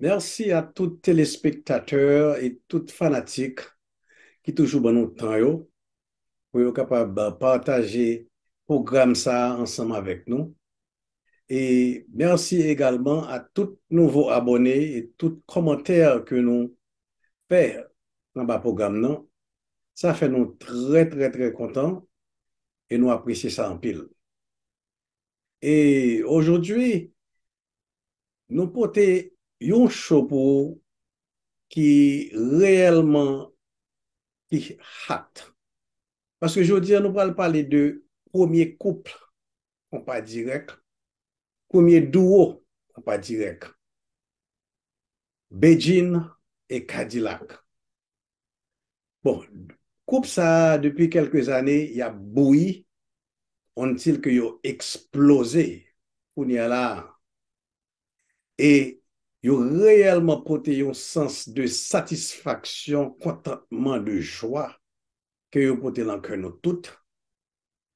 Merci a tout telespektatèr e tout fanatik ki toujou ban nou tan yo pou yo kapab pataje pwogram sa a ansanm avèk nou. E merci egalman a tout nouvo abòne e tout kòmantè ke nou fè anba pwogram nan. Sa fè nou trè trè trè kontan e nou apresye sa anpil. E aujourd'hui Nou pote yon show pou ou ki reyèlman ki hot. Paske jodi a nou pral pale de premye couple konpa dirèk, premye duo konpa dirèk. Bedjine et Cadillac. Bon, koup sa a depi kelke zane y ap bouyi ontil ke yo eksploze kounye a la a. E yo reyèlman pote yon sans de satisfaksyon, kontantman, de jwa ke yo pote lan kè nou tout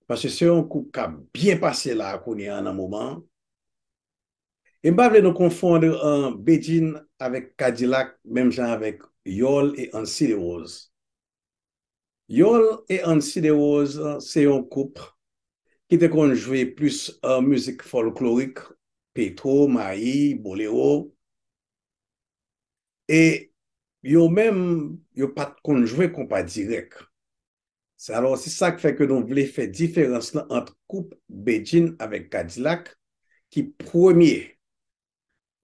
paske se yon koup kap byen pase la kounye an nan moman an, e m pa vle nou konfondre Bedjine avèk Kadilak menm jan avèk Yòl e Ansi de Woz. Yòl e Ansi de Woz se yon koup ki te konn jwe plis mizik fòlklorik, Petro, Mayi, Bolero, e yo menm yo pat konn jwe konpa dirèk. Se alò se sak fè ke nou vle fè diferans lan ant koup Bedjine avèk Kadilak ki premye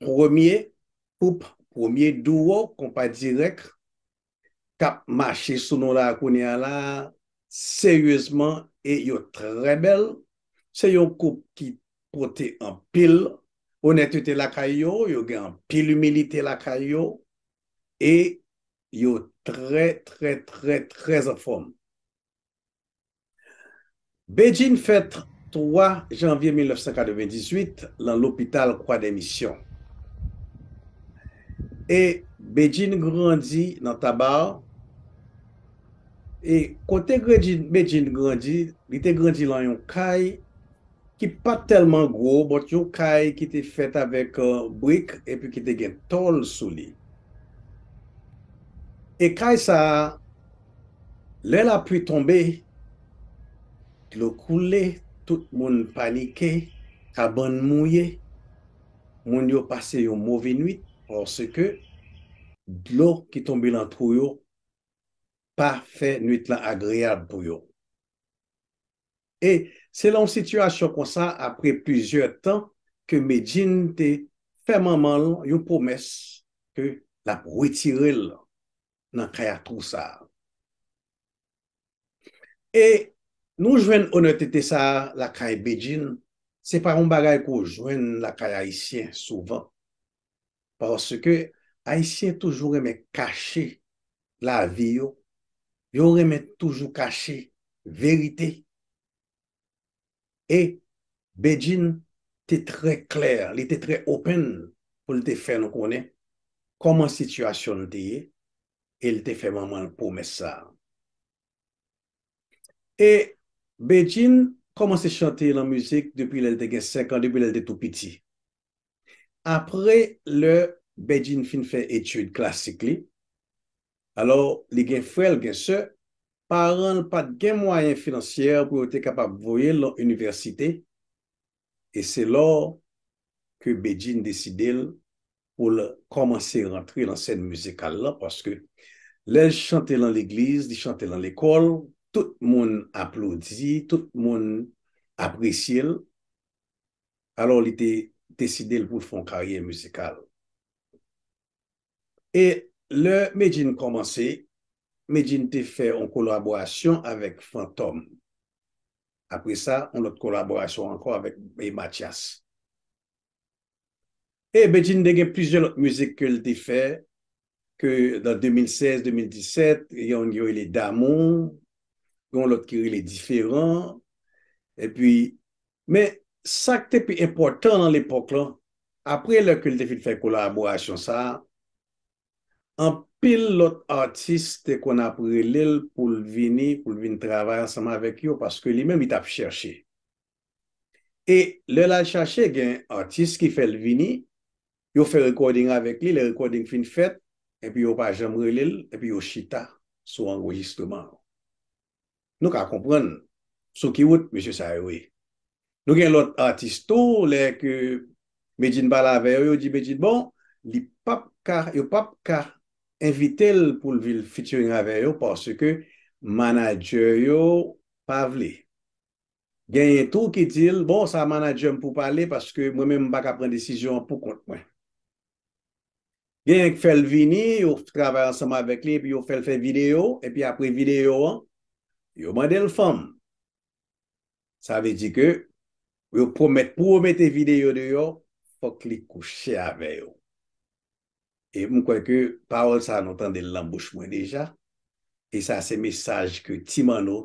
premye koup premye duo konpa dirèk kap mache sou nou la kounye a la seryezman e yo trè bèl se yon koup ki pote anpil onètete lakay yo, yo gen anpil imilite lakay yo e yo trè trè trè trè anfòm. Bedjine fèt 3 janvye 1998 lan lopital Kwadèmisyon. E Bedjine grandi nan Tabar. E kote Bedjine grandi, li te grandi lan yon kay. ki pa t tèlman gwo, bòt yon kay ki te fèt avèk brik epi ki te gen tòl sou li. E kay sa a, lè lapli tonbe, dlo koule, tout moun panike, kabann mouye, moun yo pase yon move nuit paske dlo ki tonbe lan twou yo pa fè nuit lan agreyab pou yo. e se nan yon sitiyasyon konsa apre plizyè tan ke Medjine te fè manman l yon pwomès ke l ap retire l nan kay a twou sa a. E nou jwenn onètete sa a lakay Bedjine, se pa yon bagay ke w jwenn lakay ayisyen souvan. paske ayisyen toujou renmen kache lavi yo, yo renmen toujou kache verite e Bedjine te trè klè, li te trè open pou l te fè nou konnen kòman sitiyasyon l te ye e l te fè manman l pwomès sa a. E Bedjine kòmanse chante lan mizik depi lè l te gen 5 an, depi lè l te tou piti. Apre lè Bedjine fin fè etid klasik li, alò li gen frè l gen sè, paran l pa t gen mwayen finansyè pou yo te kapab voye l nan inivèsite e se lò ke Bedjine deside l pou l kòmanse rantre nan sèn mizikal lan paske lè l chante lan legliz, li chante lan lekòl tout moun aplodi, tout moun apresye l. alò li te deside l pou l fè yon karyè mizikal. E lè Medjine kòmanse, Medjine te fè yon kolaborasyon avèk Fantom. Apre sa, yon lòt kolaborasyon ankò avèk Matyas. E Medjine te gen plizyè lòt mizik ke l te fè ke nan 2016, 2017, gen yon ki rele damou, gen yon lòt ki rele diferan, epi, men, sa k te pi enpòtan nan lepòk lan, apre lè ke l te fin fè kolaborasyon sa a, anpil lòt atis te konn ap rele l pou l vini, pou l vin travay ansanm avèk yo, paske li menm li t ap chèche. e lè lal chache gen atis ki fèl vini yo fè recording avèk li lè recording fin fèt epi yo pa janm relel epi yo chita sou anrejistreman an nou ka konprann sou ki wout mesye sa yo ye nou gen lòt atis tou lè ke Medjine pale avè yo yo di Medjine bon li pap ka yo pap ka envitel poul vin featuring avè yo paske manager yo pa vle. Genyen tou ki di l, bon, sa manadjè m pou pale paske mwen menm m pa ka pran desizyon an poukont mwen. Genyen k fè l vini, yo travay ansanm avèk li epi yo fè l fè videyo, epi apre videyo an, yo mande l fanm. Sa vle di ke yo pwomèt pou yo mete videyo deyò, fòk li kouche avè yo. E m kwè ke pawòl sa nou tande l nan bouch mwen deja, e sa se mesaj ke Ti Manno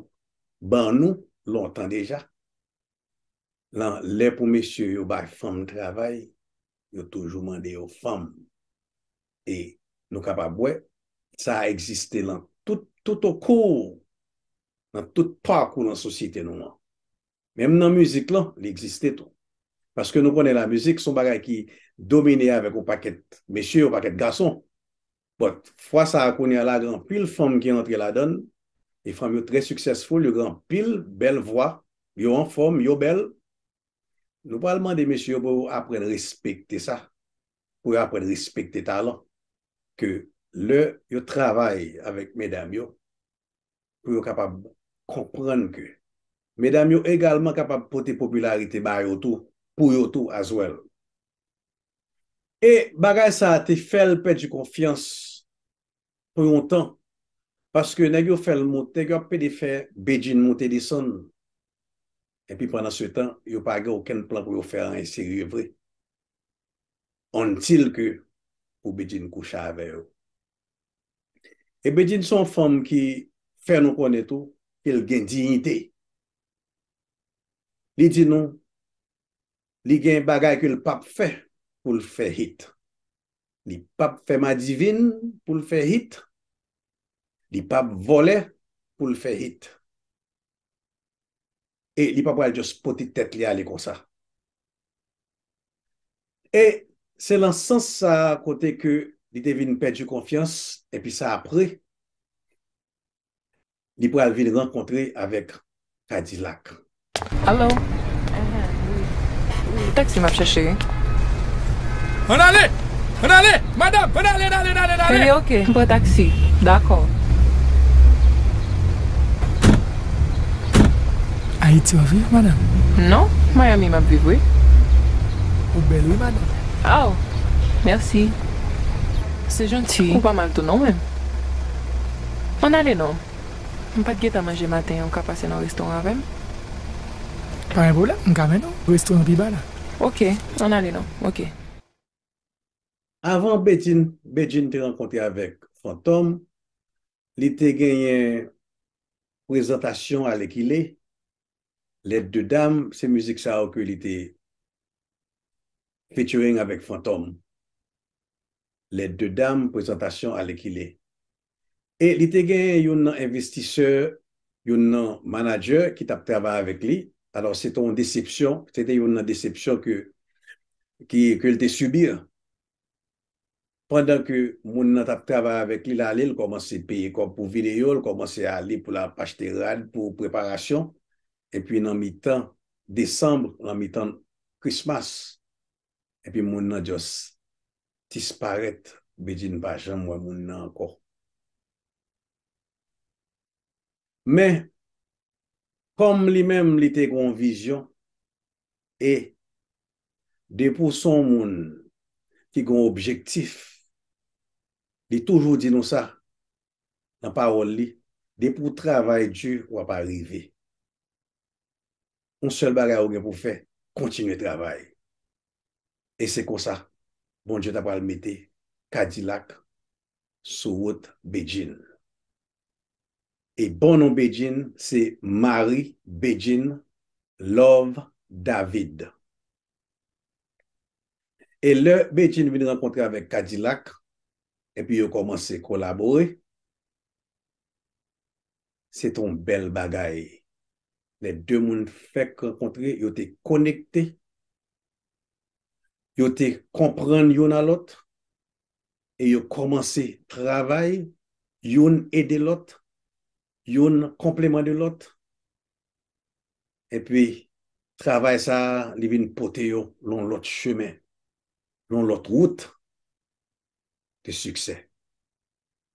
ban nou lontan deja. Nan lè pou mesye yo bay fanm travay, yo toujou mande yo fanm. E nou kapab wè, sa a egziste nan tout, toutokou, nan tout pakou nan sosyete nou an. Menm nan mizik lan, li egziste tou. Paske nou konnen lamizik son bagay ki domine avèk yon pakèt mesye, yon pakèt gason. But, fwa sa a kounye a la gen anpil fanm ki antre ladan l, e fanm yo trè successful, yo gen anpil bèl vwa, yo anfòm, yo bèl. Nou pral mande mesye yo pou yo aprann respekte sa, pou yo aprann respekte talan, ke lè yo travay avèk medam yo, pou yo kapab konprann ke medam yo egalman kapab pote popilarite ba yo tou, pou yo tou as well. E bagay sa a te fè l pèdi konfyans pou yon tan, paske nèg yo fè l moute, nèg yo ap pede fè Bedjine moute desann, epi pandan se tan yo pa gen okenn plan pou yo fè anyen serye vre, until ke pou Bedjine kouche avè yo. E Bedjine se yon fanm ki fè nou konnen tou ke l gen diyite. Li di nou li gen bagay ke l p ap fè pou l fè hit. Li p ap fè madivin pou l fè hit. Li p ap vòlè pou l fè hit. E li pa pral just pote tèt li ale konsa. E se lan sans sa a kote ke li te vin pèdi konfyans epi sa apre li pral vin rankontre avèk Kadilak. Allo? Wi. Se taksi map chèche wi. Ann ale! Ann ale! Madam! Ann ale, n ale, n ale, n ale! Cheri ok, m pran taksi. Dakò. Ayiti wap viv madame? Non, Miami map viv wi. Ou bel wi madame. Aww merci se janti. Ou pa mal tou non men. Ann ale non. M pat gentan manje maten an ou ka pase nan restoran avem? Pa gen pwoblem m ka mennen w restoran pi ba la. Ok ann ale non ok. Avan Bedjine te rankontre avèk Fantom, li te genyen prezantasyon alèkile, Les deux dames, se mizik sa yo ke li te featuring avèk Fantom, Les deux dames, prezantasyon alèkile. e li te genyen youn nan envestisè, youn nan manadjè ki t ap travay avèk li, alò se te yon desepsyon, se te youn nan desepsyon ke ke l te subir. Pandan ke moun nan t ap travay avèk li, l ale l kòmanse peye kòb pou videyo, l kòmanse ale pou l ap achte rad pou preparasyon, epi nan mitan Decembre, nan mitan Christmas, epi moun nan just disparèt Bedjine pa janm wè moun nan ankò men kòm li menm li te gen yon vizyon e depi w son moun ki gen yon objektif li toujou di nou sa nan pawòl li depi w travay di wap arive. yon sèl bagay ou gen pou fè kontinye travay e se konsa Bondye ta pral mete kadilak sou wout Bedjine e bon non Bedjine se Marie Bedjine Love David e lè Bedjine vin rankontre avèk kadilak epi yo kòmanse kolabore. Se te yon bèl bagay. Lè de moun fèk rankontre, yo te konekte, yo te konprann youn a lòt e yo kòmanse travay, youn ede lòt, youn konpleman de lòt. Epi, travay sa a, li vin pote yo yon lòt chemen, yon lòt wout de siksè.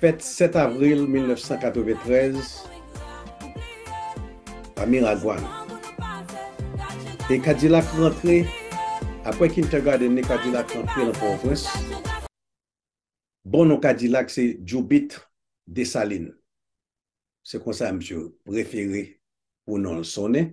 Fèt 7 avril 1993 a Miragwàn e Kadilak rantre apre Kintergarden li Kadilak rantre nan Pòtoprens. Bon non Kadilak se Djoubit Desalin. Se konsa misye prefere pou non l sonnen.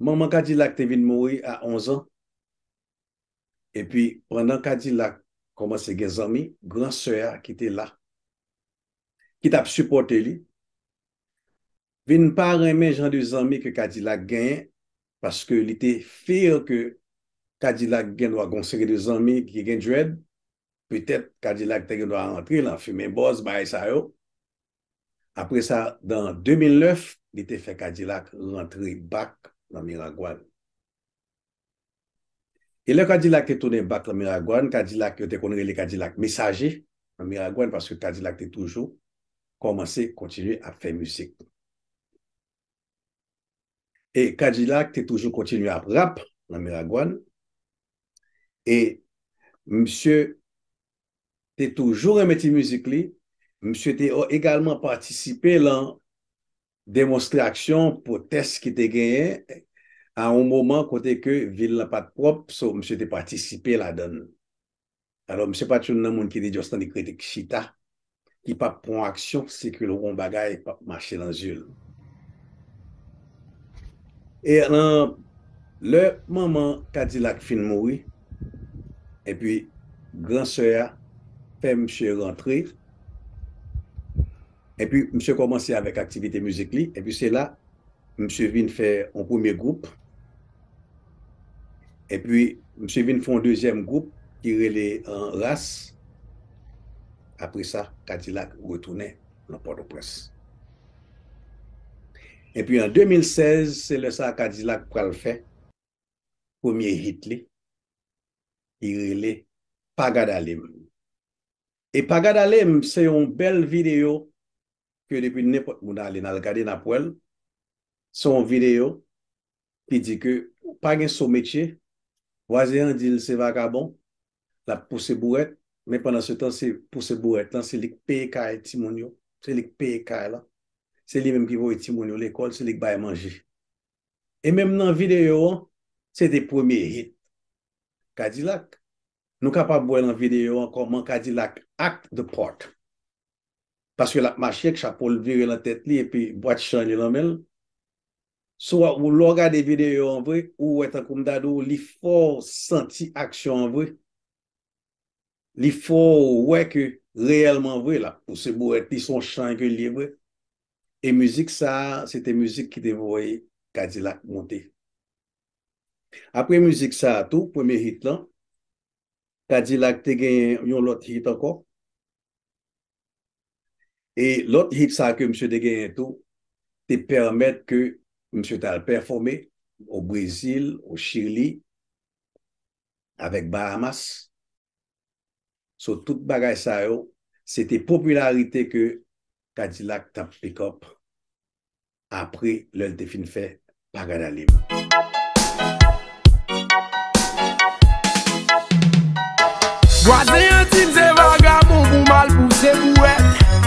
Manman Kadilak te vin mouri a 11 an. Epi pandan Kadilak kòmanse gen zanmi, gran sè a ki te la, ki t ap sipòte li, vin pa renmen jan de zanmi ke Kadilak genyen paske li te fear ke Kadilak gen dwa gen yon seri de zanmi ki gen dread, petèt Kadilak te gen dwa antre lan fimen bòz, bagay sa yo. Apre sa, dan 2009, li te fè Kadilak rantre bak nan Miragwàn. E lè Kadilak te tounen bak nan Miragwàn, Kadilak yo te konn rele Kadilak Mesaje nan Miragwàn paske Kadilak te toujou kòmanse kontinye ap fè mizik. E Kadilak te toujou kontinye ap rap nan Miragwàn. E msye te toujou renmen ti mizik li, misye te egalman patisipe lan demonstraksyon pwotès ki te genyen a yon moman kote ke vil lan pat pwòp, so misye te patisipe ladan l. Alò misye pat youn nan moun ki te just tande kritik chita li pap pran yon aksyon se ke l wè yon bagay p ap mache nan zye l. E nan lè manman Kadilak fin mouri epi gran sè a fè misye rantre epi misye kòmanse avèk aktivite mizik li epi se la misye vin fè yon premye gwoup. Epi, misye vin fè yon dezyèm gwoup ki rele Ras. Apre sa, Kadilak retounen nan Pòtoprens. Epi an 2016, se lè sa a Kadilak pral fè premye hit li ki rele Pa Gad Ale M. E pa gad ale m se yon bèl video ke depi nenpòt moun ale nal gade nap wèl se yon video ki di ke pa gen so metye vwazen an dil se vakabon lap pouse bourèt men pandan se tan se pouse bourèt lan se li k peye kay timoun yo se li k peye kay lan se li menm ki voye timoun yo lekòl se li k bay manje e menm nan video an se te premye hit kadilak Nou kapab wè nan videyo an kòman Kadilak act the part. Paske l ap mache ak chapo l vire nan tèt li epi bwat chan li nan men l. Si w ap ou lè w gade videyo an vre, ou wè tankou m ta di w li fè w santi aksyon an vre. Li fè w wè ke reyèlman vre l ap pouse bourèt li, se yon chan ke l ye vre. E mizik sa a, se te mizik ki te voye Kadilak monte. Apre mizik sa a tou, premye hit lan, Kadilak te genyen yon lòt hit ankò. E lòt hit sa a ke misye te genyen tou te pèmèt ke misye ta al pèfome o Brezil, o Chili, avèk Bahamas. So tout bagay sa yo se te popilarite ke Kadilak t ap pick up apre lè l te fin fè Paganalim. Vwazen an di m se vagabon pou mal pou se pou wè.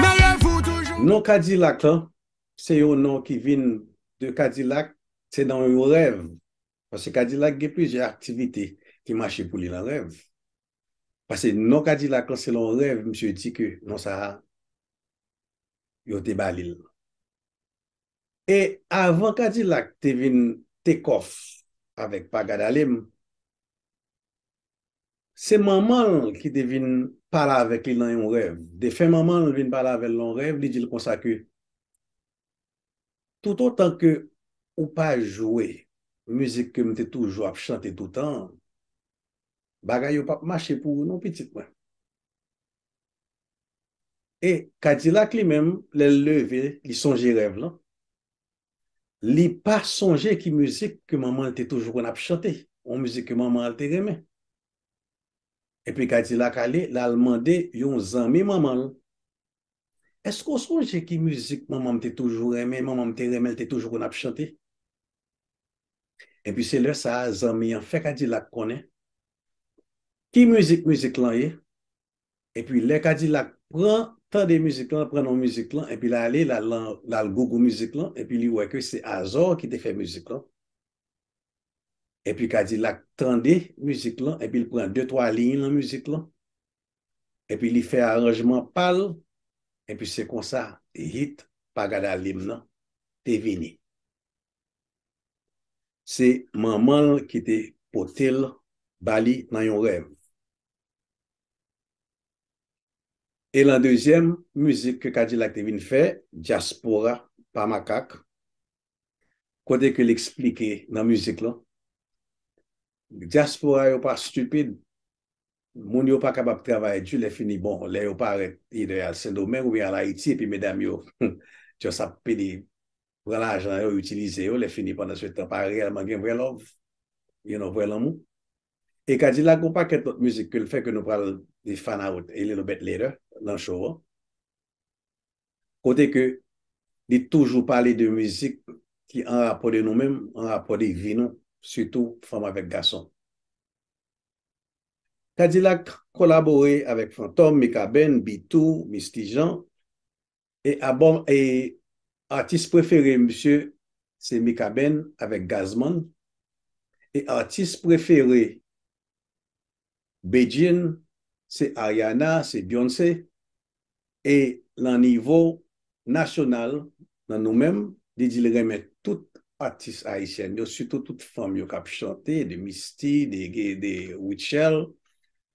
Meye vou toujou. Non Kadilak lan se yon non ki vin de Kadilak se nan yon rèv paske Kadilak gen plizyè aktivite ki mache pou li nan rèv pase non Kadilak lan se lan rèv misye di ke non sa a yo te ba li l. E avan kadilak te vin take off avèk pa gad ale m, se manman l ki te vin pale avèk li nan yon rèv. Defen manman l vin pale avè l nan yon rèv, li di l konsa ke toutotan ke ou pa jwe mizik ke m te toujou ap chante toutan an, bagay yo p ap mache pou ou non pitit mwen. E Kadilak li menm, lè l leve, li sonje rèv lan, li pa sonje ki mizik ke manman l te toujou konn ap chante, yon mizik ke manman l te renmen. Epi Kadilak ale, l al mande yon zanmi manman l, Èske ou sonje ki mizik manman m te toujou renmen, manman m te renmen, l te toujou konn ap chante? Epi se lè sa a zanmi an fè Kadilak konnen ki mizik mizik lan ye, Epi lè kadilak pran tande mizik lan pran non mizik lan epi la ale la lan la al gogo mizik lan epi li wè ke se azor ki te fè mizik lan epi kadilak tande mizik lan epi li pran de twa liy lan mizik lan epi li fè aranjman pal epi se konsa hit pa gad ale m nan te vini se manman l ki te pote l ba li nan yon rèv. E lan dezyèm mizik ke Kadilak te vin fè, Dyaspora pa makak, kote ke li eksplike nan mizik lan, Dyaspora yo pa stupid, moun yo pa kapab travay di lè fini bon, lè yo parèt either y al Sendomeng oubyen y al Ayiti epi medam yo just ap pede pran lajan yo, itilize yo, lè fini pandan se tan pa reyèlman gen vrè love, you know, vrè lanmou. E Kadilak gon pakèt lòt mizik ke l fè ke nou pral li find out a little bit later lan show an. Kote ke li toujou pale de mizik ki an rapò de nou menm, an rapò de vi nou, sitou fanm avèk gason. Kadilak kolabore avèk Fantòm, Mikaben, Bitou, Misty Jean, E abòm e atis prefere misye se Mikaben avèk Gazman e atis prefere Bedjine se Ariana se Beyoncé e nan nivo nasyonal nan nou menm li di li renmen tout atis ayisyèn yo sitou tout fanm yo kap chante de Misty de Rutshelle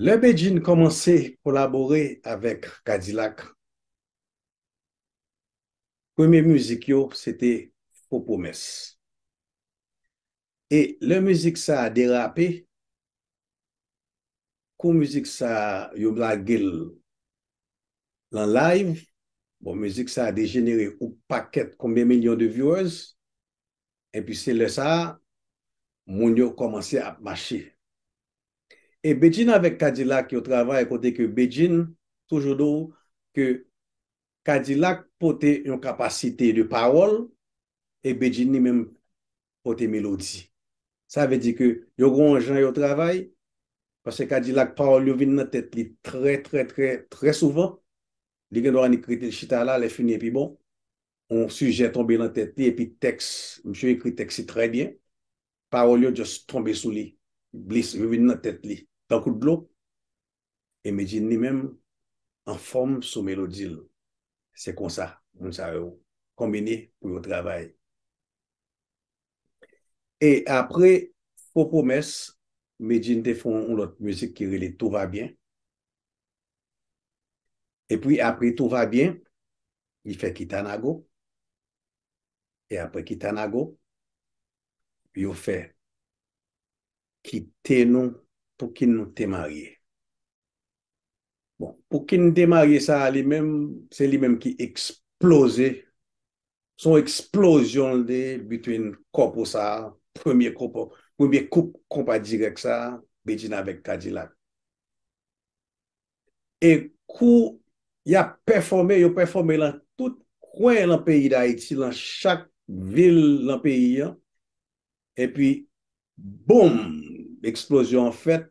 Lè Bedjine kòmanse kolabore avèk Kadilak, premye mizik yo se te Fo Pwomès. E lè mizik sa a derape, kou mizik sa a yo lage l lan live, bon mizik sa a dejenere ou pakèt konbyen milyon de viewers, epi se lè sa a moun yo kòmanse ap mache. E Bedjine avèk Kadilak yo travay kote ke Bedjine toujou di w ke Kadilak pote yon kapasite de pawòl e Bedjine li menm pote melodi. Sa vle di ke yo gen yon jan yo travay, paske Kadilak pawòl yo vin nan tèt li trè trè trè trè souvan, li gen dwa annik rete chita la, lè fini epi bon. yon sijè tonbe lan tèt li epi tèks, msye ekri tèks li trè byen, pawòl yo just tonbe sou li, glis, yo vin nan tèt li tankou dlo, e Medjine li menm anfòm sou melodi l. Se konsa moun sa yo konbine pou yo travay. E apre Fo Pwomès, Medjine te fè yon lòt mizik ki rele Tout va bien, E pwi apre tou va byen, li fè Kitanago, e apre Kitanago, yo fè Kite nou pou kin nou te marye. Bon, pou kin nou te marye sa a li menm, se li menm ki eksploze, son eksplozyon l te ye between kòpou sa a, premye kòpou, premye koup konpa dirèk sa a, Bedjine avèk Kadilak. e kou y ap pèfòme, yo pèfòme lan tout kwen lan peyi Dayiti, lan chak vil lan peyi an, epi boum, eksplozyon an fèt,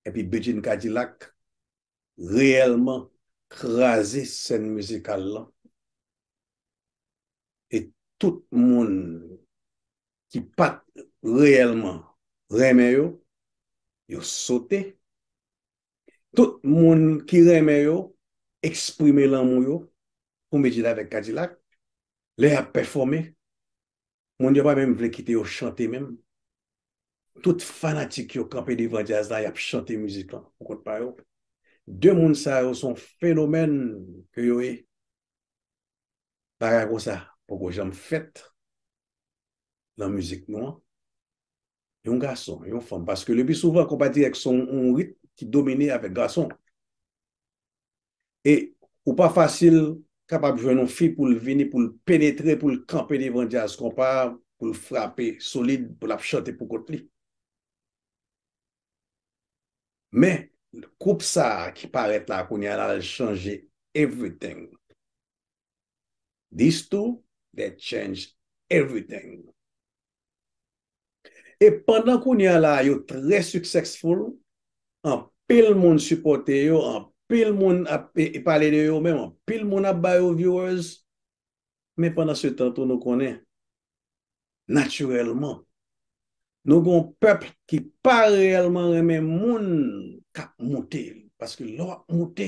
epi Bedjine Kadilak reyèlman kraze sèn mizikal lan, e tout moun ki pa t reyèlman renmen yo, yo sote. Tout moun ki renmen yo eksprime lanmou yo pou Medjid avèk Kadilak lè y ap pèfòme. Moun yo pa menm vle kite yo chante menm. Tout fanatik yo kanpe devan djaz la, y ap chante mizik lan pou kont pa yo. De moun sa yo se yon fenomèn ke yo ye. Bagay konsa poko janm fèt nan mizik nou an. Yon gason, yon fanm, paske lepi souvan konpa dirèk son yon rit ki domine avèk gason. E ou pa fasil kapab jwenn yon fi pou l vini pou l penetre, pou l kanpe devan djaz konpa, pou l frape solid, pou l ap chante pou kont li. Men, koup sa a ki parèt la kounye a la l chanje everything. These two, they change everything. E pandan kounye a la yo trè successful, anpil moun sipòte yo, anpil moun ap pale de yo menm, anpil moun ap ba yo viewers, Men pandansetan tou nou konnen, natirèlman, nou gen yon pèp ki pa reyèlman renmen moun k ap moute. Paske lè w ap moute,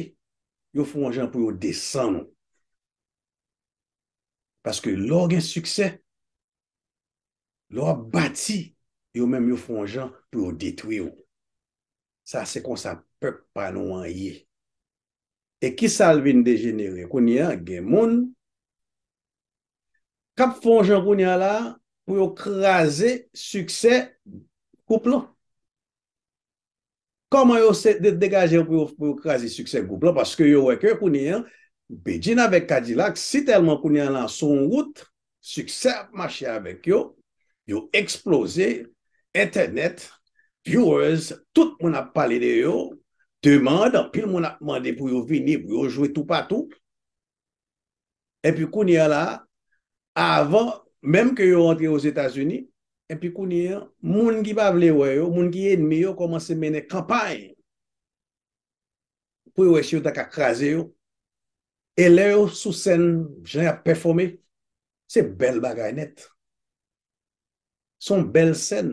yo fè yon jan pou yo desann ou. Paske lè w gen siksè, lè w ap bati, yo menm yo fè yon jan pou yo detwi ou. Sa se konsa pèp pa nou an ye. E kisa l vin dejenere kounye a? Gen moun k ap fè yon jan kounye a la a pou yo kraze siksè gwoup lan. Kòman yo se degaje yo pou yo kraze siksè gwoup lan? Paske yo wè ke kounye a Bedjine avèk Kadilak si tèlman kounye a la sou yon wout siksè ap mache avèk yo, yo eksploze, entènèt, viewers, tout moun ap pale de yo, demand, anpil moun ap mande pou yo vini, pou yo jwe toupatou. Epi kounye a la, avan menm ke yo antre Ozetazini, epi kounye a, moun ki pa vle wè yo, moun ki enmi yo kòmanse mennen kanpay pou yo wè si yo ta ka kraze yo, e lè yo sou sèn jan yap pèfome, se bèl bagay nèt. Son bèl sèn.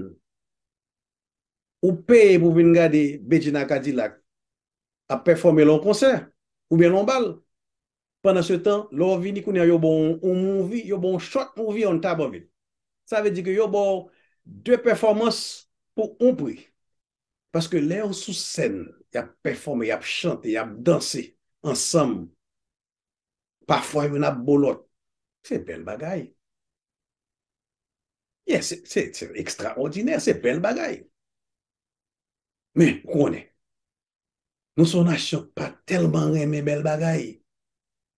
Ou peye pou vin gade Bedjine a Kadilak ap pèfome lè yon konsè, oubyen lè yon bal. Pandan se tan, lè w vini kounye a yo ba w yon movie, yo ba w yon short movie on top of it. Sa vle di ke yo ba w 2 pèfòmans pou yon pri. Paske lè yo sou sèn, y ap pèfòme, y ap chante, y ap danse ansanm. Pafwa youn ap bo lòt. Se bèl bagay. Ye, se ekstraòdinè, se bèl bagay. Men, ou konnen, Nou son nasyon pa telman renmen bel bagay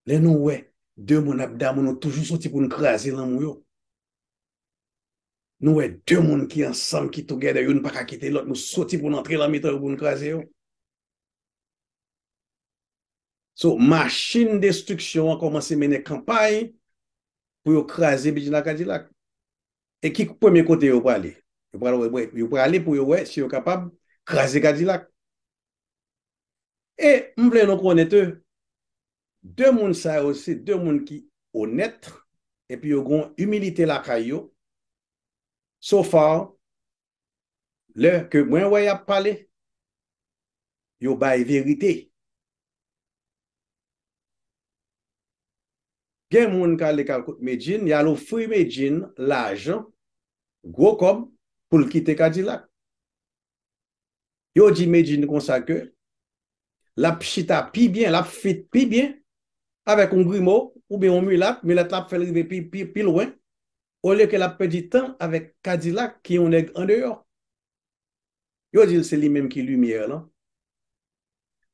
lè nou wè de moun ap damou nou toujou soti poun kraze lanmou yo nou wè de moun ki ansanm ki together youn paka kite lot nou soti poun antre lan mitan yo poun kraze yo so machin destriksyon an komanse mennen kanpay pou yo kraze bgy la kadilak. E ki premye kote yo prale? Yo prale pou yo wè si yo kapab kraze Kadilak. E m vle nou konnen ke 2 moun sa yo se 2 moun ki onèt epi yo gen yon imilite lakay yo. So far, lè ke mwen wè yap pale yo bay verite gen moun kale kal kot Medjine yal ofri Medjine lajan gwo kòb poul kite kadilak yo di Medjine konsa ke lap chita pi byen lap fit pi byen avèk yon grimo oubyen yon milat milat la ap fèl rive pi lwen olye ke lap pèdi tan avèk kadilak ki yon nèg andeyò. Yo dil se li menm ki limyè lan.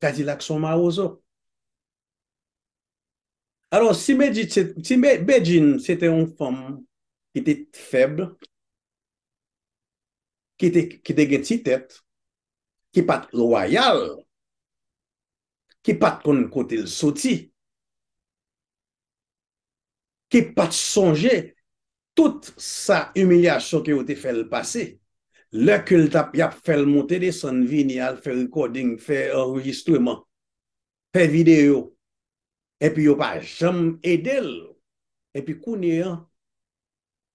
Kadilak son mawozo. Alò si Bedjine se te yon fanm ki te fèb, ki te gen ti tèt, ki pat lwayal, ki pat konn kotel soti, ki pa t sonje tout sa imilyasyon ke yo te fè l pase, lè ke l t ap y ap fè l monte desann vini al fè rekòding, fè anrejistreman, fè videyo, epi yo pa janm ede l, epi kounye an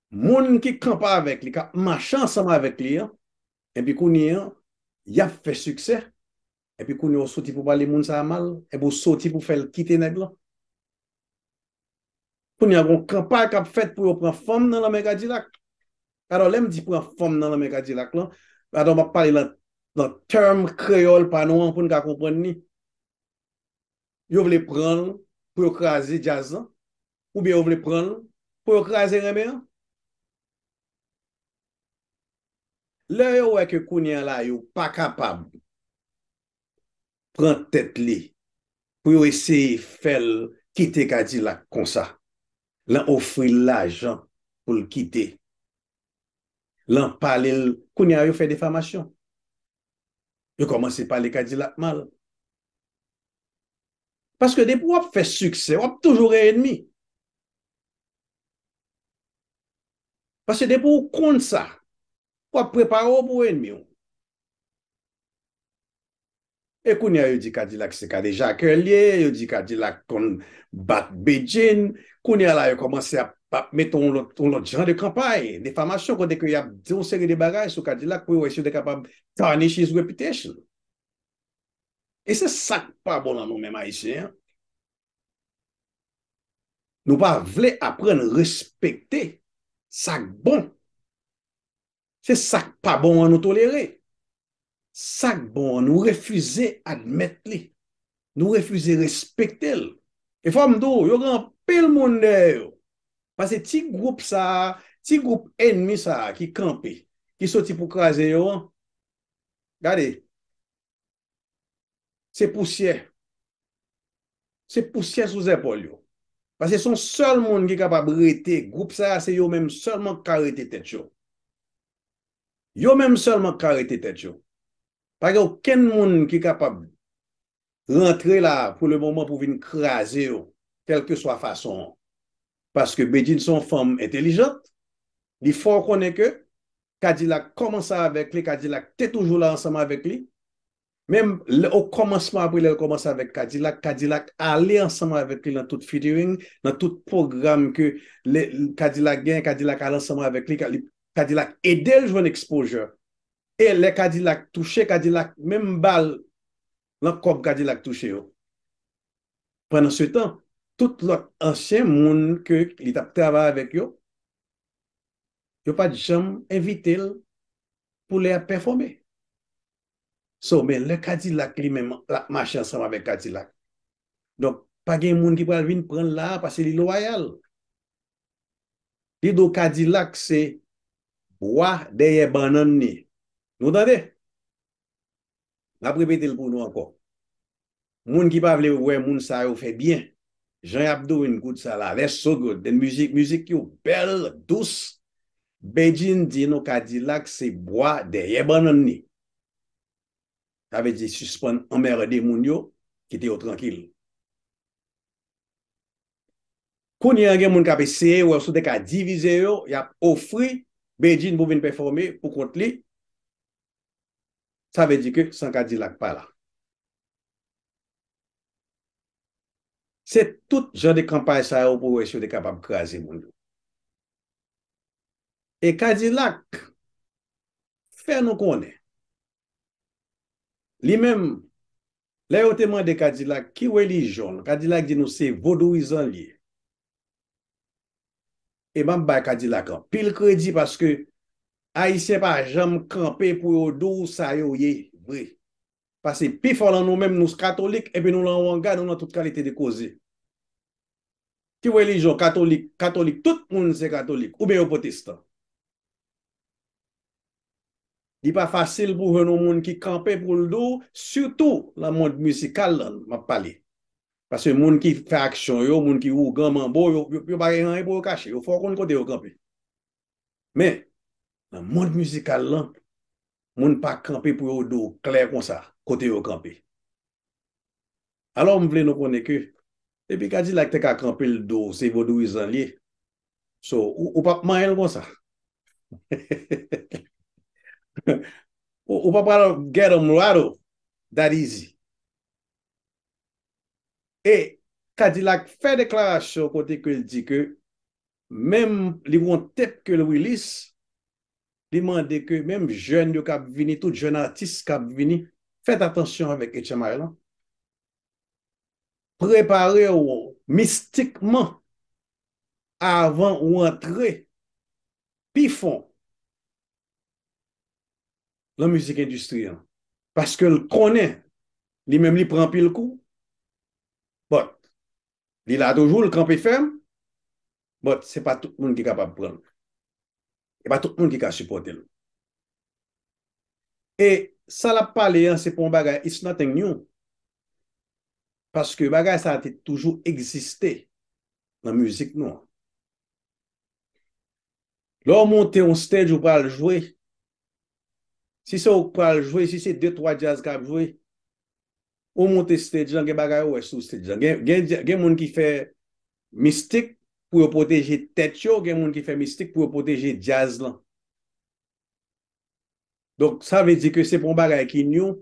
moun ki kanpe avèk li, k ap mache ansanm avèk li an, epi kounye an y ap fè siksè, epi kounye ou soti pou pale moun sa mal, epi ou soti pou fèl kite nèg lan. Kounye a gon kanpay kap fèt pou yo pran fanm nan nan men kadilak. Alò lèm di pran fanm nan nan men kadilak lan, alò map pale lan lan term kreyòl pa nou an poun ka konprann li. Yo vle pranl pou yo kraze djaz lan, oubyen yo vle pranl pou yo kraze renmen an. Lè yo wè ke kounye a la yo pa kapab pran tèt li pou yo eseye fè l kite Kadilak konsa, lan ofri l lajan pou l kite, lan pale l, kounye a yo fè defamasyon. Yo kòmanse pale Kadilak mal. Paske depi w ap fè siksè, w ap toujou gen enmi. Paske depi ou konn sa, w ap prepare w pou enmi w. E kounye a yo di Kadilak se kadejakè l ye, yo di Kadilak konn bat Bedjine, kounye a la yo kòmanse ap mete yon lòt jan de kanpay, defamasyon kote ke y ap di yon seri de bagay sou Kadilak pou yo wè si yo te kapab tarnish his reputation. E se sa k pa bon nan nou menm Ayisyen an. Nou pa vle aprann respekte sa k bon. Se sa k pa bon an nou tolere. Sa k bon an nou refize admèt li. Nou refize respekte l. E fò m di w, yo gen anpil moun dèyè yo. Pase ti gwoup sa a, ti gwoup enmi sa a ki kanpe, ki soti pou kraze yo an. Gade. Se pousyè. Se pousyè sou zèpòl yo. Paske son sèl moun ki kapab rete, gwoup sa a se yo menm sèlman ki ka rete tèt yo. Yo menm sèlman ki ka rete tèt yo. Pa gen okenn moun ki kapab rantre la pou le moman pou vin kraze yo, kèlkeswa fason an. Paske Bedjine se yon fanm entelijant, li fè w konnen ke Kadilak kòmanse avèk li, Kadilak te toujou la ansanm avèk li. Menm lè o kòmansman apre lè l kòmanse avèk Kadilak, Kadilak ale ansanm avèk li nan tout featuring, nan tout pwogram ke lè Kadilak gen, Kadilak ale ansanm avèk li, Kadilak ede l jwenn ekspozyè. E lè Kadilak touche, Kadilak menm ba l nan kòb Kadilak touche yo. Pandansetan, tout lòt ansyen moun ke li t ap travay avèk yo, yo pat janm envitel pou lè yap pèfome so men lè kadilak li menm lap mache ansanm avèk kadilak donk pa gen moun ki pral vin pranl la pase li lwayal li do kadilak se bwa dèyè bannann li nou tande. M ap repete l pou nou ankò. Moun ki pa vle wè moun sa yo fè byen, jan y ap doin kout sa la, les so good, den mizik, mizik yo bèl, dous, Bedjine di nou Kadilak se bwa dèyè bannann li. Sa vle di sispann anmèrde moun yo, kite yo trankil. Kounye a gen moun k ap eseye wè si w te ka divize yo, y ap ofri Bedjine pou vin pèfòme pou kont li, Sa vle di ke san kadilak pa la. Se tout jan de kanpay sa yo pou wè si yo te kapab kraze moun yo. E kadilak fè nou konnen li menm Lè yo te mande Kadilak ki relijyon l, Kadilak di nou se Vodouizan l ye. E m ap bay Kadilak anpil kredi paske Ayisyen pa janm kanpe pou yo di w sa yo ye vre. Pase pi fò lan nou menm nou katolik epi nou lan wanga, nou lan tout kalite de koze. Ki relijyon katolik, katolik tout moun se katolik oubyen yo pwotestan. Li pa fasil pou w jwenn yon moun ki kanpe pou l di w, sitou nan mond mizikal la m ap pale. Paske moun ki fè aksyon yo, moun ki ougan manbo yo, yo pa gen anyen pou yo kache, yo fò konn kote yo kanpe. Men, nan mond mizikal la, moun pa kanpe pou yo di w klè konsa kote yo kanpe. Alò m vle nou konnen ke depi kadilak te ka kanpe l do se vodouizan l ye so ou pa p manyen l konsa ou pa pral get em rattle that easy e kadilak fè deklarasyon kote ke l di ke Menm li wont tèt kel Willis li mande ke menm jèn yo kap vini tout jèn atis kap vini fèt atansyon avèk HMI lan preparew mistikman avan ou antre pi fon lan mizik endistri an paskel konnen li menm li pran anpil kou but Li la toujou, li kanpe fèm, but se pa tout moun ki kapab pran l. E pa tout moun ki ka sipòte l. E sa l ap pale an se pa yon bagay, it's nothing new. Paske bagay sa te toujou egziste nan mizik nou an. Lè w monte yon stage ou pral jwe, si se ou k pral jwe, si se 2, 3 djaz k ap jwe, ou moute stage lan gen bagay ou wè sou stage lan gen moun ki fè mistik pou yo pwoteje tèt yo gen moun ki fè mistik pou yo pwoteje djaz lan donk sa vle di ke se pa yon bagay ki new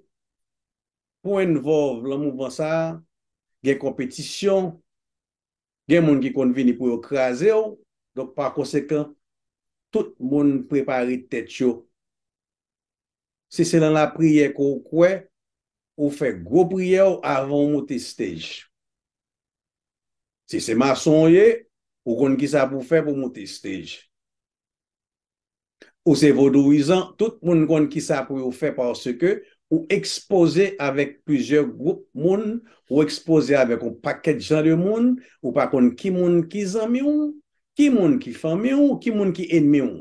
pou envolve lan mouvman sa gen konpetisyon gen moun ki konn vini pou yo kraze w donk pa konsekan tout moun prepare tèt yo Si se nan lapriyè ke w kwè, ou fè gwo priyè w avan w moute stage. Si se mason w ye, ou konn kisa pou w fè pou w moute stage. Ou se vodouyizan, tout moun konn kisa pou yo fè paske ou ekspoze avèk plizyè gwoup moun, ou ekspoze avèk yon pakèt jan de moun, ou pa konn ki moun ki zanmi w, ki moun ki fanmi w, ki moun ki enmi w.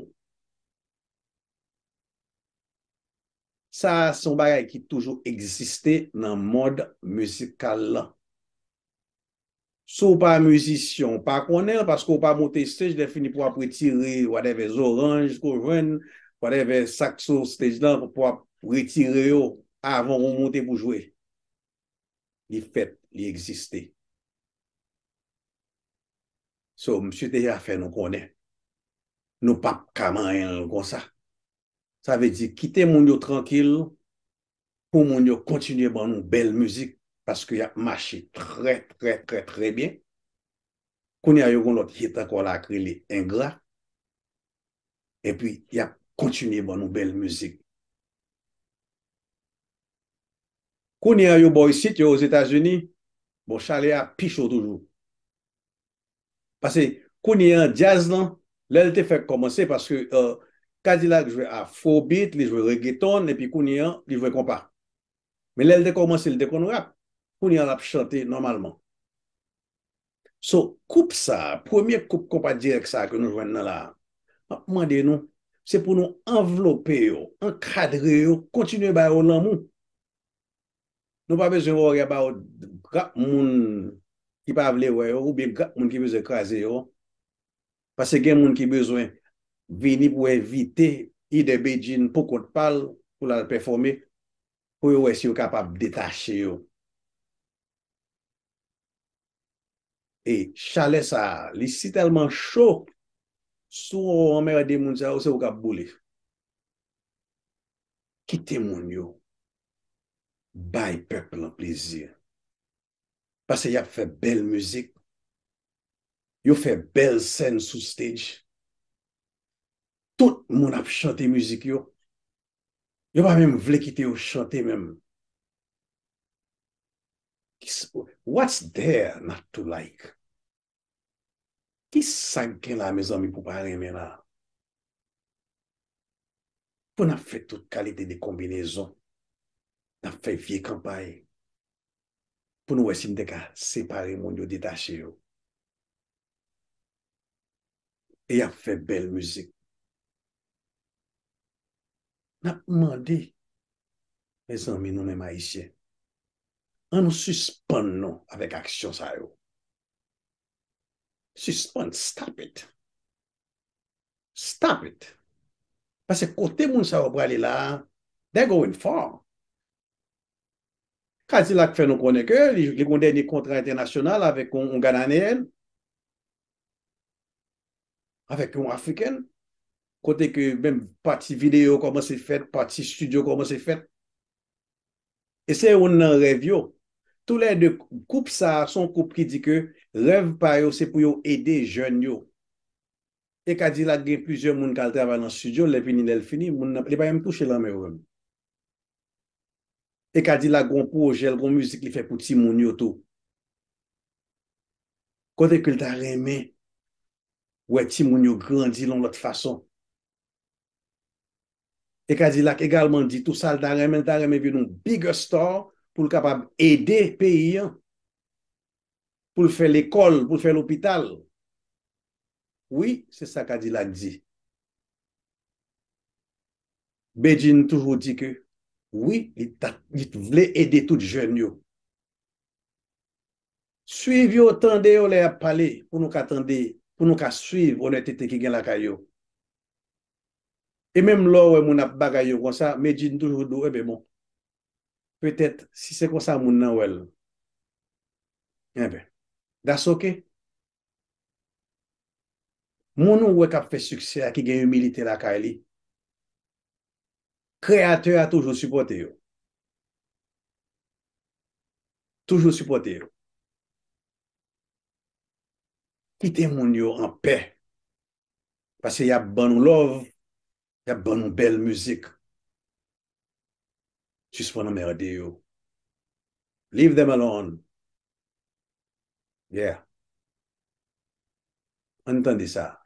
Sa a se yon bagay ki toujou egziste nan mond mizikal lan. Si w pa mizisyen w pa konnen l paske w pa monte estaj lèfini pou w ap retire whatever zoranj ke w jwenn, whatever sa k sou estaj lan pou w ap retire yo avan w monte pou jwe. li fèt, li egziste. So, misye deja fè nou konnen, nou pa p ka manyen l konsa. Sa vle di, kite moun yo trankil, pou moun yo kontinye ban nou bèl mizik, paske y ap mache trè, trè, trè, trè byen. Kounye a yo gen yon lòt hit ankò la ki rele Engra. epi yap kontinye ban nou bèl mizik. Kounye a yo bò isit yo ozetazini, bon chalè a pi cho toujou. Pase kounye an djaz lan lèl te fèk kòmanse paske K-dilak jwe afrobit, li jwe regeton epi kounye an li jwe konpa. Men lèl te kòmanse li te konn rap, kounye a lap chante nòmalman. So, koup sa, premye koup konpa dirèk sa ke nou jwenn nan la, map mande nou, se pou nou anvlope yo, ankadre yo, kontinye ba yo lanmou. Nou pa bezwen wè yo ya ba yo grap moun ki pa vle wè yo, oubyen grap moun ki bezwen kraze yo. Pase gen moun ki bezwen vini pou envite lidè Bedjine pou kont pa l, pou l al pèfome, pou yo wè si yo kapab detache yo. E chalè sa a li si tèlman cho si w anmerde moun sa yo se ou k ap boule. Kite moun yo bay pèp lan plezi pase y ap fè bèl mizik, yo fè bèl sèn sou stage, tout moun ap chante mizik yo, yo pa menm vle kite yo chante menm. What's there not to like? Ki sa k gen la mezanmi pou pa renmen la? Pou n ap fè tout kalite de konbinezon, n ap fè vye kanpay pou nou wè si nou te ka separe moun yo, detache yo. E y ap fè bèl mizik. Nap mande mezanmi nou menm ayisyen an nou sispann non avèk aksyon sa yo sispann stop it stop it pase kote moun sa yo prale la they're going far kadilak fè nou konnen ke li gen yon dènye kontra entènasyonal avèk yon gananeyèn avèk yon African, kote ke menm pati video yo kòmanse fèt, pati studio kòmanse fèt. E se youn nan rèv yo. Tou lè 2, koup sa a son koup ki di ke rèv pa yo se pou yo ede jèn yo. E K-Dilak gen plizyè moun kal travay lan studio l, lè vini lè l fini, moun nan, li pa menm touche lan men yo menm. E K-Dilak gon pwojè l, gon mizik li fè pou timoun yo tou. Kote ke l ta renmen wè timoun yo grandi yon lòt fason. E Kadilak egalman di tou sa l ta renmen, l ta renmen vin yon bigger star pou l kapab ede peyi an, pou l fè lekòl, pou l fè lopital. Wi, se sa Kadilak di. Bedjine toujou di ke wi, li ta, li t vle ede tout jèn yo. Swiv yo, tande yo lè y ap pale pou nou ka tande, pou nou ka swiv onètete ki gen lakay yo. E menm lè w wè moun ap bagay yo konsa, Medjine toujou di w enben bon, petèt si se konsa moun nan wè l, enben, that's ok. Moun ou wè kap fè siksè a ki gen imilite lakay li, Kreyatè a toujou sipòte yo. Toujou sipòte yo. Kite moun yo anpè. Pase yap ban nou love. Yap ban nou bèl mizik. Sispann anmerde yo. Leave them alone. Yeah. Ann tande sa.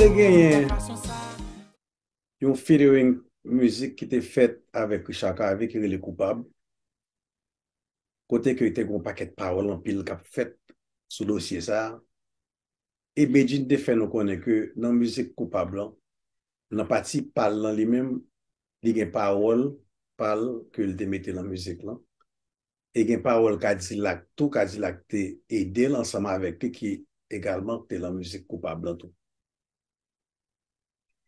Te genyen yon featuring mizik ki te fèt avèk Richard Cavé ki rele Koupab, kote ke te gen yon pakèt pawòl anpil k ap fèt sou dosye sa a. e Bedjine te fè nou konnen ke nan mizik Koupab lan, nan pati pa l lan li menm, li gen pawòl pa l ke l te mete nan mizik lan, e gen pawòl Kadilak tou, Kadilak te ede l ansanm avèk li ki egalman te lan mizik Koupab lan tou.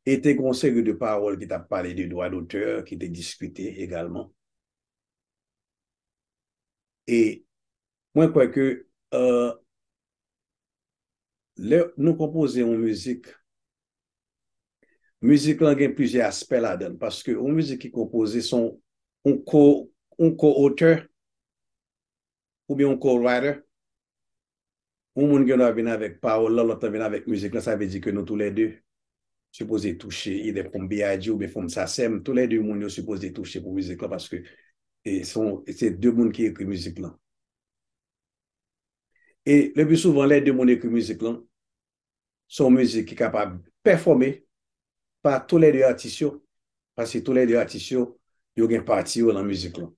E te gen yon seri de pawòl ki t ap pale de dwa dotè ki te diskite egalman. E Mwen kwè ke lè nou konpoze yon mizik, mizik lan gen plizyè aspè ladan l paske yon mizik ki konpoze se yon ko-otè oubyen yon ko-writer. Yon moun gendwa vin avèk pawòl lan, lòt lan vin avèk mizik lan, sa vle di ke nou tou lè de sipoze touche idè fòm BIG oubyen fòm Sasèm, tou lè 2 moun yo sipoze touche pou mizik lan paske e son se 2 moun ki ekri mizik lan. E le pi souvan lè 2 moun ekri mizik lan, son mizik ki kapab pèfòme pa tou lè 2 atis yo, paske tou lè 2 atis yo, yo gen pati yo lan mizik lan.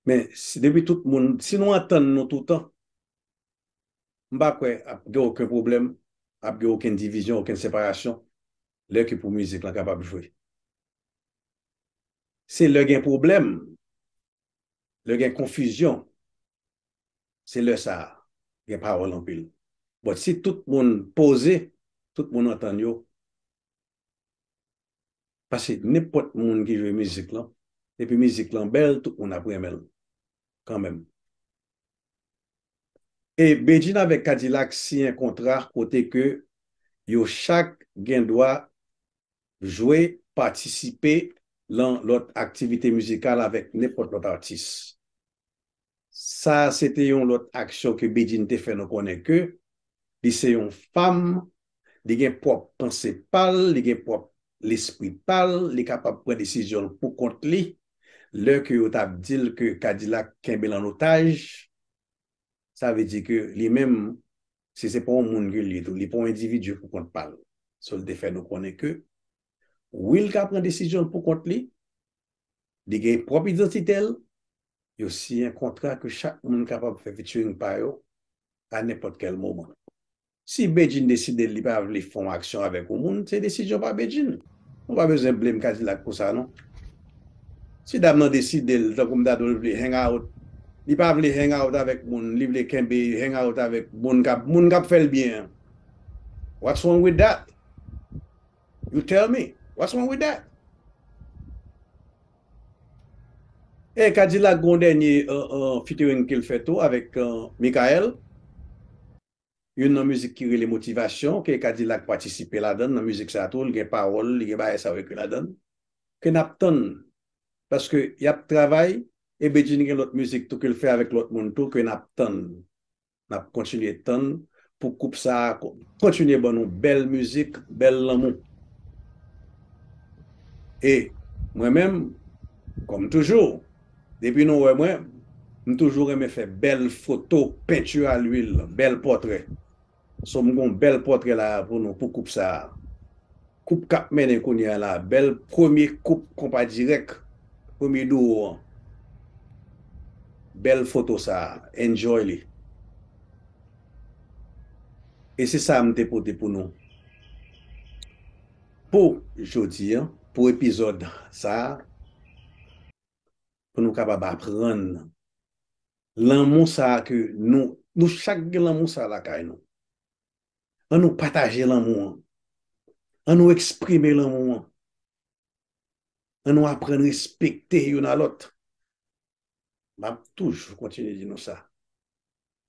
Men, si depi tout moun, si nou antann nou toutan, m pa kwè ap gen oken pwoblèm, ap gen oken divizyon, oken separasyon lè ke pou mizik lan kapab jwe. Se lè gen pwoblèm, lè gen konfizyon, se lè sa a gen pawòl anpil. But si tout moun poze, tout moun antann yo, Paske nenpòt moun ki jwe mizik lan, depi mizik lan bèl tout moun ap renmen l kanmenm. E Bedjine avèk Kadilak siyen kontra kote ke yo chak gen dwa jwe, patisipe lan lòt aktivite mizikal avèk nenpòt lòt atis. Sa a se te yon lòt aksyon ke Bedjine te fè nou konnen ke li se yon fanm, li gen pwòp panse pa l, li gen pwòp lespri pa l, li kapab pran desizyon l pou kont li, lè ke yo t ap di l ke Kadilak kenbe l an otaj, sa vle di ke li menm, si se pa yon moun ke l ye tou, li pa yon endividi pou kont pa l. So l te fè nou konnen ke wi l ka pran desizyon l pou kont li, Li gen pwòp idantite l, yo siyen kontra ke chak moun kapab fè featuring pa yo a nenpòt kèl moman. Si Bedjine deside li pa vle fè yon aksyon avèk yon moun, se desizyon pa Bedjine. Nou pa bezwen blame Kadilak pou sa non. Si dam nan deside l, tankou m ta di w l vle hang out, li pa vle hang out avèk moun, li vle kenbe hang out avèk moun k ap fè l byen an, what's wrong with that? You tell me, what's wrong with that? E Kadilak gon dènye featuring kel fè tou avèk Mikael, youn nan mizik ki rele Motivasyon ke Kadilak patisipe ladann nan mizik sa tou, li gen pawòl, li gen bagay sa yo ekri ladann, ke nap tann, paske yap travay e Bedjine gen lòt mizik tou kel fè avèk lòt moun tou ke nap tann. nap kontinye tann pou koup sa kontinye ban nou bèl mizik bèl lanmou e mwen menm kòm toujou depi nou wè mwen m toujou renmen fè bèl foto penti a lwil bèl pòtrè so m gon bèl pòtrè la pou nou pou koup sa Koup kap mennen kounye a la bèl premye koup konpa dirèk premye duo an bèl foto sa enjoy li e se sa m te pote pou nou pou jodi an pou epizòd sa pou nou kapab aprann lanmou sa ke nou nou chak gen lanmou sa lakay nou An nou pataje lanmou an. An nou eksprime lanmou an. An nou aprann respekte youn a lòt. M ap toujou kontinye di nou sa.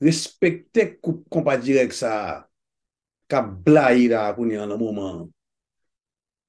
Respekte koup konpa dirèk sa a k ap blayi la a kounye an nan moman an.